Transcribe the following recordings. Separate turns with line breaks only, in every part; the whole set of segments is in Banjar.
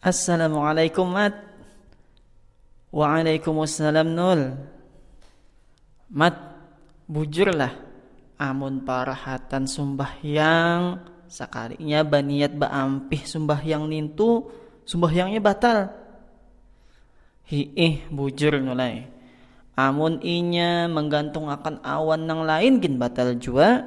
Assalamualaikum mat Waalaikumussalam nul Mat bujurlah amun parahatan sumbahyang sakalinya baniat baampih sumbahyang nintu sumbahyangnya batal hiih bujur nul ai amun inya manggantung akan awan nang lain gin batal jua.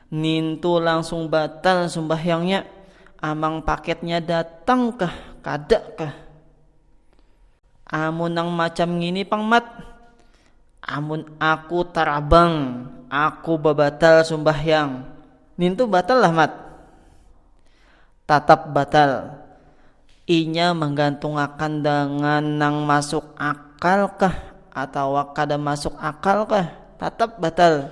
Ngintu langsung batal sumbahyangnya, amang paketnya datang kah kada kah. Amun nang macam ngini pang Mat, amun aku tarabang aku babatal sumbahyang, nintu batal lah Mat. Tatap batal, inya manggantungakan dangan nang masuk akal kah atawa kada masuk akal kah, tatap batal.